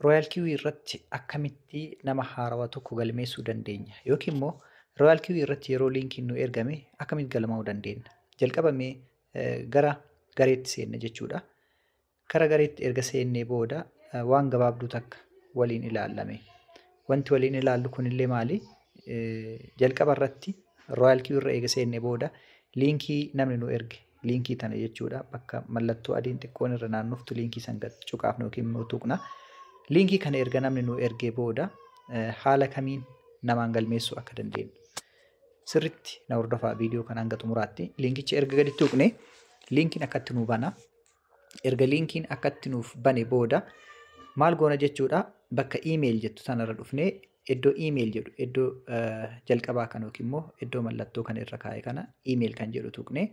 Royal Kiwi irratti akkamitti nama haarawa tokko galmeessuu dandeenya yookiin immoo Royal Kiwi irratti yeroo liinkiin nu ergame akkamitti galmaa'uu dandeenya jalqabamee gara gareetti seenne jechuudha. Gara gareetti erga seennee booda waan gabaabduu takka waliin ilaallame. Wanti waliin ilaallu kunillee maali? Jalqaba irratti Royal Kiwi irra eega seennee booda liinkii namni nu erge liinkii tana jechuudha bakka mallattoo adiin xiqqoon irra naannoftu liinkii san gad cuqaafna yookiin immoo tuqna liinkii kana erga namni nu ergee booda haala kamiin namaan galmeessuu akka dandeenyu sirritti na hordofaa viidiyoo kana hanga xumuraatti liinkicha erga gadi tuqne liinkiin akkatti nu bana erga liinkiin akkatti nuuf bane booda maal goona jechuudha bakka iimeeyil jettu tanarra dhufnee Iddoo email jedhu iddoo jalqabaa kan yookiin immoo iddoo mallattoo kan irra kaa'e kana email kan jedhu tuqnee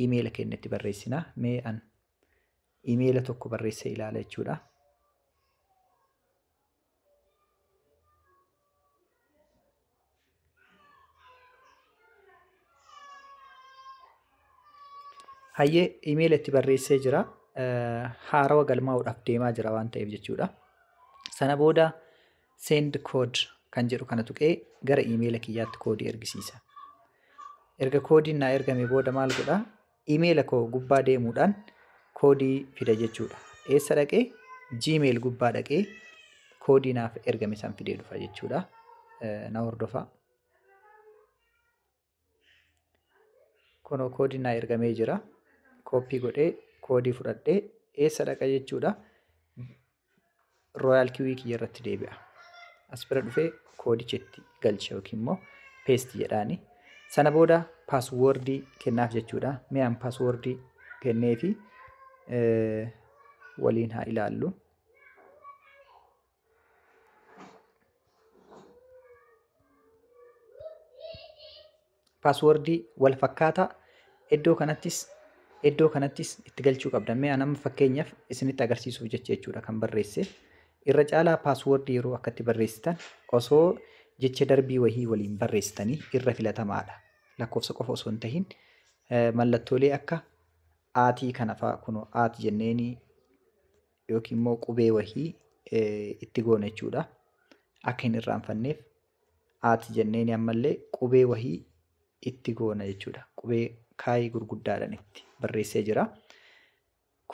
emaila keenya itti barreessina. Mee an emaila tokko barreessee ilaala jechuudha. Hayyee emaila itti barreessee jira. Haarawa galmaa'uudhaaf deemaa jira waan ta'eef jechuudha. Sana booda Send code kan jedhu kana tuqee gara iimeela kiyyaatti koodii ergisiisa. Erga koodiin naa ergame booda maal godha? Iimeela koo gubbaa deemuudhaan koodii fida jechuudha. Eessa dhaqee? Gmail gubbaa dhaqee koodii naaf ergame san fidee dhufa jechuudha. Na hordofaa. Kunoo koodiin naa ergamee jira. Kooppii godhee koodii fudhadhee eessa dhaqa jechuudha. Royaal kiwii kiyya irratti deebi'a. As bira dhufee koodicha itti galcha yookiin immoo peesti jedhaani. Sana booda paaswoordii kennaaf jechuudha. Mi'aan paaswoordii kenneefi waliin haa ilaallu. paaswordii wal fakkaataa iddoo kanattis iddoo kanattis itti galchuu qabda. Mee an amma fakkeenyaaf isinitti agarsiisuuf jecha jechuudha kan barreesse. Irra caalaa paaswordii yeroo akkatti barreessitan osoo jecha darbii wahii waliin barreessitanii irra filatamaadha. Lakkoofsa qofa osoo hin tahin mallattoolee akka aatii kana fa'aa kunoo aati jenneenii yookiin immoo qubee wahii itti goona jechuudha. Akka hin irraanfanneef aati jenneen ammallee qubee wahii itti goona jechuudha. Qubee kaayii gurguddaadhaan itti barreessee jira.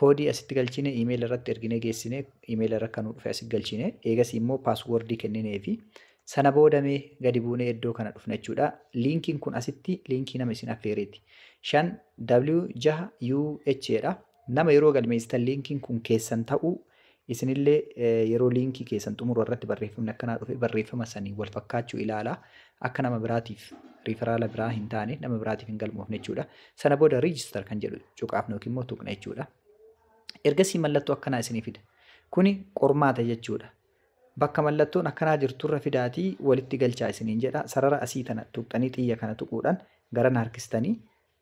Koodii asitti galchine iimeela irratti erginee geessine iimeela irra kan dhufe asitti galchine eegasii immoo paaswoordii kenninee fi sana boodamee gadi buunee iddoo kana dhufna jechuudha. Liinkiin kun asitti liinkii nama isin affeereeti. 5 W 6 UH dha. Nama yeroo galmeessitan liinkiin kun keessan ta'uu isinillee yeroo liinkii keessan xumuru irratti barreeffamni akkanaa dhufe barreeffama saniin wal fakkaachuu ilaala. Akka nama biraatiif riiferaala biraa hin taane nama biraatiif hin galmoofne jechuudha. Sana booda riijistar kan jedhu cuqaafna yookiin immoo tuqna jechuudha. Ergasii mallattoo akkanaa isinii fida. Kuni qormaata jechuudha. Bakka mallattoon akkanaa jirturra fidaatii walitti galchaa isiniin jedha. Sarara asii tana tuqxanii xiyya kana tuquudhaan garana harkistanii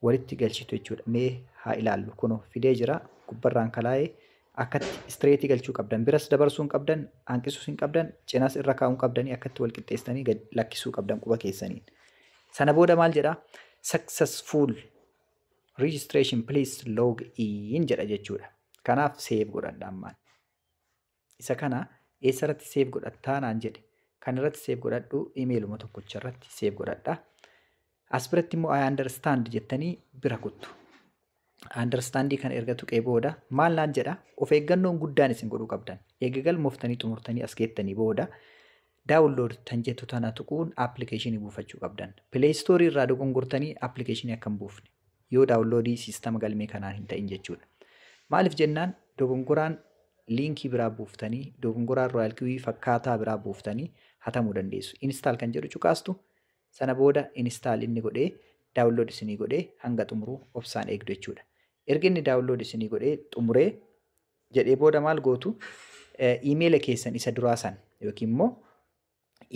walitti galchitu jechuudha. Mee haa ilaallu kuno fidee jira gubbarraan kalaa'ee akkatti istireetii galchuu qabdan biras dabarsuu hin qabdan hanqisuus hin qabdan cinas irra kaa'uu hin qabdanii akkatti wal qixxeessitanii gad lakkisuu qabdan quba keessaniin. Sana booda maal jedha successful registration please log in jedha jechuudha. Kanaaf save godhadha ammaan. Isa kana eessa irratti save godhattaa naan jedhe. Kan irratti save godhadhu imeeluma tokkocha irratti save godhadha. As biratti immoo I understand jettanii bira kuttu. Understandii kana erga tuqee booda maal naan jedha of eeggannoon guddaan isin godhuu qabdan. Eega galmooftanii xumurtanii as geettanii booda Download tan jettu tana tuquun application buufachuu qabdan. Play Store irraa dogongortanii application akka hin buufne. Yoo download sistama galmee kanaan hin ta'in jechuudha. Maaliif jennaan dogongoraan liinkii biraa buuftanii dogongoraan Royal Kiwi fakkaataa biraa buuftanii hatamuu dandeessu. Install kan jedhu cuqaastu sana booda install inni godhee download isinii godhee hanga xumuru obsaan eegdu jechuudha. Erga inni download isinii godhee xumuree jedhee booda maal gootu iimeela keessan isa duraa san yookiin immoo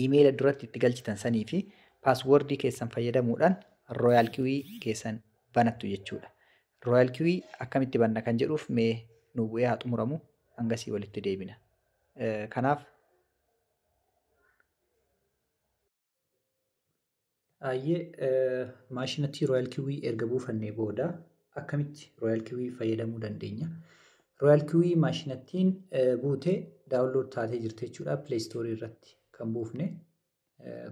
iimeela duratti itti galchitan sanii fi paaswordii keessan fayyadamuudhaan rooyaal kiwii keessan banattu jechuudha. Rooyaal kiwii akkamitti banna kan jedhuuf mee nu bu'ee haa xumuramu hangasii walitti deebina. Kanaaf Ayyee maashinatti Royal Kiwii erga buufannee booda akkamitti Royal Kiwii fayyadamuu dandeenya? Royal Kiwii maashinattiin buute daawunlood taatee jirti jechuudha Play Store irratti kan buufne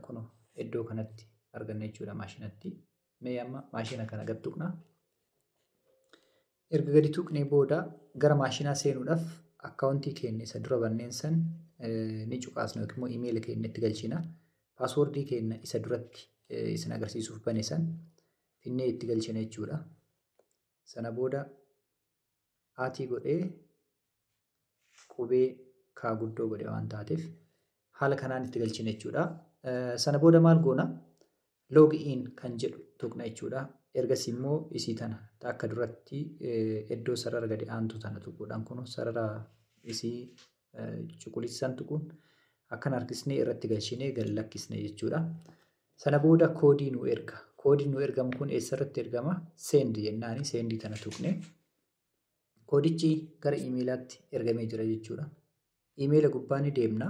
kun iddoo kanatti arganna jechuudha maashinatti Mee amma maashina kana gad tuqna. Erga gadi tuqnee booda gara maashinaa seenuudhaaf akkaawuntii keenya isa dura banneen san ni cuqaasna yookiin immoo imeela keenya itti galchina. Paaswoordii keenya isa duratti isin agarsiisuuf bane san finnee itti galchina jechuudha. Sana booda aatii godhee qubee kaa guddoo godhe waan taateef haala kanaan itti galchina jechuudha. Sana booda maal goona? Log in kan jedhu tuqna jechuudha. Ergasii immoo isii tana akka duratti iddoo sarara gadi aantu tana tuquudhaan kun sarara isii cuquliisaan tuquun akkan harkisnee irratti galchinee gad lakkisne jechuudha. Sana booda koodii nu erga. Koodiin nu ergamu kun eessarratti ergama? Send jennaani sendii kana tuqne. Koodichi gara imeelaatti ergamee jira jechuudha. Imeela gubbaa ni deemna.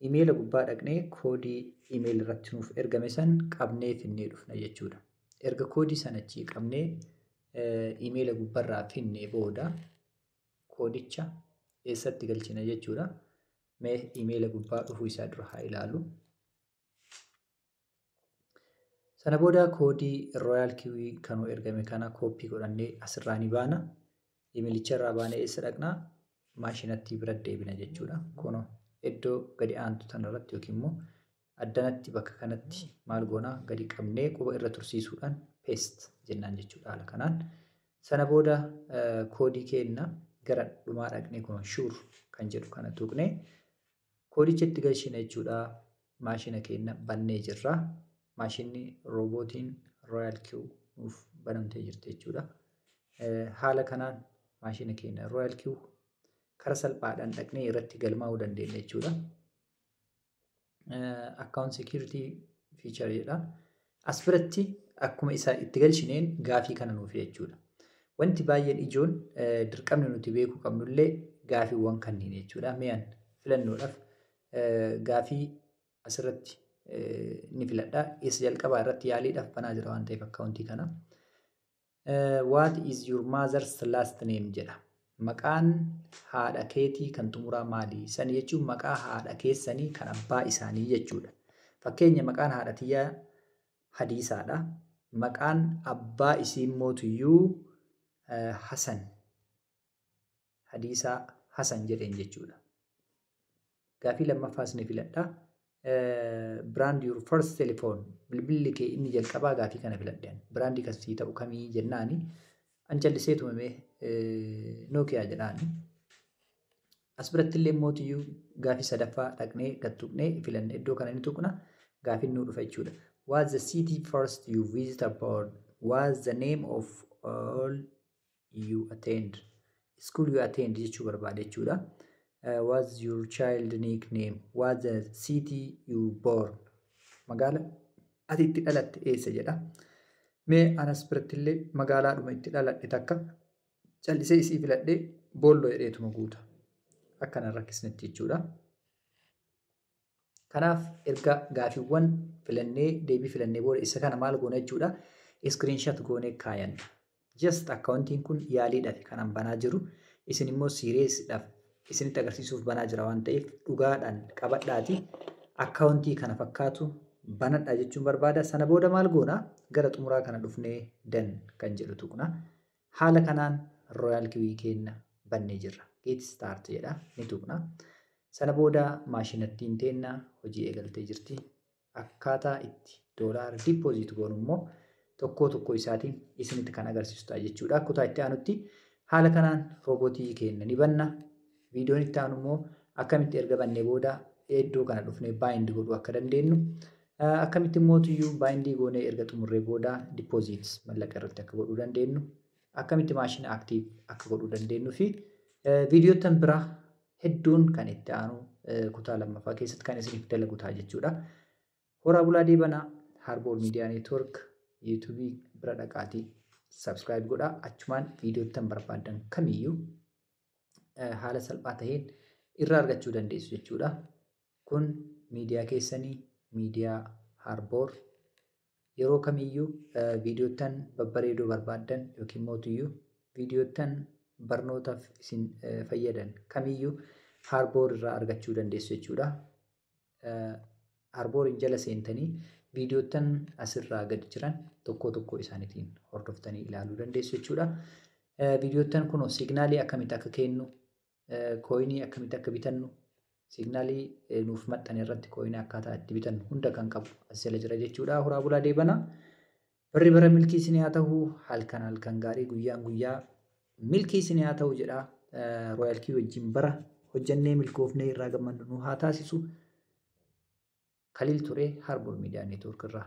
Imeela gubbaa dhaqnee koodii imeela irratti nuuf ergame san qabnee finnee dhufna jechuudha. Erga koodii sana achii qabnee imeela gubbarraa finnee booda koodicha eessatti galchina jechuudha. Mee imeela gubbaa dhufuu isaa dura haa ilaalu. Sana booda koodii Royal Kiwi kan nu ergame kana kooppii godhannee asirraa ni baana. Imeelicha irraa baanee eessa dhaqna? Maashinatti bira deebina jechuudha. Kunoo iddoo gadi aantu tanarratti yookiin immoo Addanatti bakka kanatti maal goona gadi qabnee quba irra tursiisuudhaan paste jennaan jechuudha haala kanaan. Sana booda koodii keenna gara dhumaa dhaqnee kun shuur kan jedhu kana tuqne koodicha itti galchina jechuudha. Maashina keenna bannee jirra. Maashinni roobootiin Royal Q nuuf banamtee jirti jechuudha. Haala kanaan maashina keenna Royal Q kara salphaadhaan dhaqnee irratti galmaa'uu dandeenya jechuudha. account security feature jedha. As biratti akkuma isaa itti galchineen gaafii kana nuuf jechuudha. Wanti baay'een ijoon dirqamni nuti beekuu qabnullee gaafiiwwan kanneen jechuudha. Mi'an filannoodhaaf gaafii asirratti ni filadha. Isa jalqabaa irratti yaaliidhaaf banaa jira waan ta'eef akkaawuntii kana. What is your mother's last name jedha. Maqaan haadha keetii kan xumuraa maali? Sani jechuun maqaa haadha keessanii kan abbaa isaanii jechuudha. Fakkeenya maqaan haadha tiyyaa hadiisaadha. Maqaan abbaa isii immoo tuyyuu Hasan. hadiisa hasan jedheen jechuudha. Gaafii lammaffaa isin filadha. Brand your first telephone bilbilli kee inni jalqabaa gaafii kana filadhe. Brandii kan sii ta'u kamii jennaani an callisee tumamee Nokia jedhaani. As biratti illee mootiyyuu gaafii sadaffaa dhaqnee gad tuqnee filanne iddoo kana ni tuqna gaafiin nuu dhufa jechuudha. Was the city first you visit abroad? Was the name of all you attend school you attend jechuu barbaada jechuudha uh, was your child nickname was the city you born magaala ati itti dhalatte eessa jedha mee anas birattillee magaalaadhuma itti dhaladhe takka callisee isii filadhee boolloo jedheetuma guuta akkana rakkisnetti jechuudha Kanaaf erga gaafiiwwan filannee deebii filannee booda isa kana maal goona jechuudha iskiriinshat goonee kaayanna. Just akkaawuntiin kun yaaliidhaaf kanan banaa jiru isin immoo siireessidhaaf isinitti agarsiisuuf banaa jira waan ta'eef dhugaadhaan qabadhaati akkaawuntii kana fakkaatu banadha jechuun barbaada. Sana booda maal goona gara xumuraa kana dhufnee dan kan jedhu tuqna. Haala kanaan Royal Kiwi keenna bannee jirra. Get start jedha ni tuqna. Sana booda maashinattiin teenna hojii eegaltee jirti. Akkaataa itti doolaara deposit goonu immoo tokkoo tokkoo isaatiin isinitti kan agarsiisu ta'a jechuudha. Kutaa itti aanutti haala kanaan roobotii keenna ni banna. Viidiyoon itti aanu immoo akkamitti erga bannee booda iddoo kana dhufnee baayindi godhuu akka dandeenyu akkamitti immoo tuyyuu baayindii goonee erga xumurree booda dippoziit mallaqa irratti akka godhuu dandeenyu akkamitti maashina aktiiv akka godhuu dandeenyu fi viidiyoottan biraa hedduun kan itti aanu kutaa lammaffaa keessatti kan isiniif dalagu ta'a jechuudha. Horaa bulaa deebanaa Harboor Miidiyaa Neetwoork yuutuubii bira dhaqaatii sabskiraayib godhaa achumaan viidiyoottan barbaadan kamiyyuu haala salphaa taheen irraa argachuu dandeessu jechuudha. Kun miidiyaa keessanii miidiyaa Harboor yeroo kamiyyuu viidiyoottan babbareedoo barbaaddan yookiin mootuyyuu viidiyoottan barnootaaf isin fayyadan kamiyyuu Harboor irraa argachuu dandeessu jechuudha. Arboriin jala seentanii viidiyoottan asirraa gad jiran tokkoo tokkoo isaaniitiin hordoftanii ilaaluu dandeessu jechuudha. Viidiyoottan kunoo signaalii akkamitti akka kennu, kooyinii akkamitti akka bitannu, signaalii nuuf maxxane irratti kooyinii akkaataa itti bitannu hunda kan qabu as jala jira jechuudha. Horaa bulaa deebanaa. Barri bara milkii isin haa tahu halkan halkan gaarii guyyaan guyyaa milkii isin haa tahu jedha Royal Key wajjin bara hojjannee milkoofnee irraa gammannu nu haa taasisu. Khalil Ture Harbor Media Network irraa.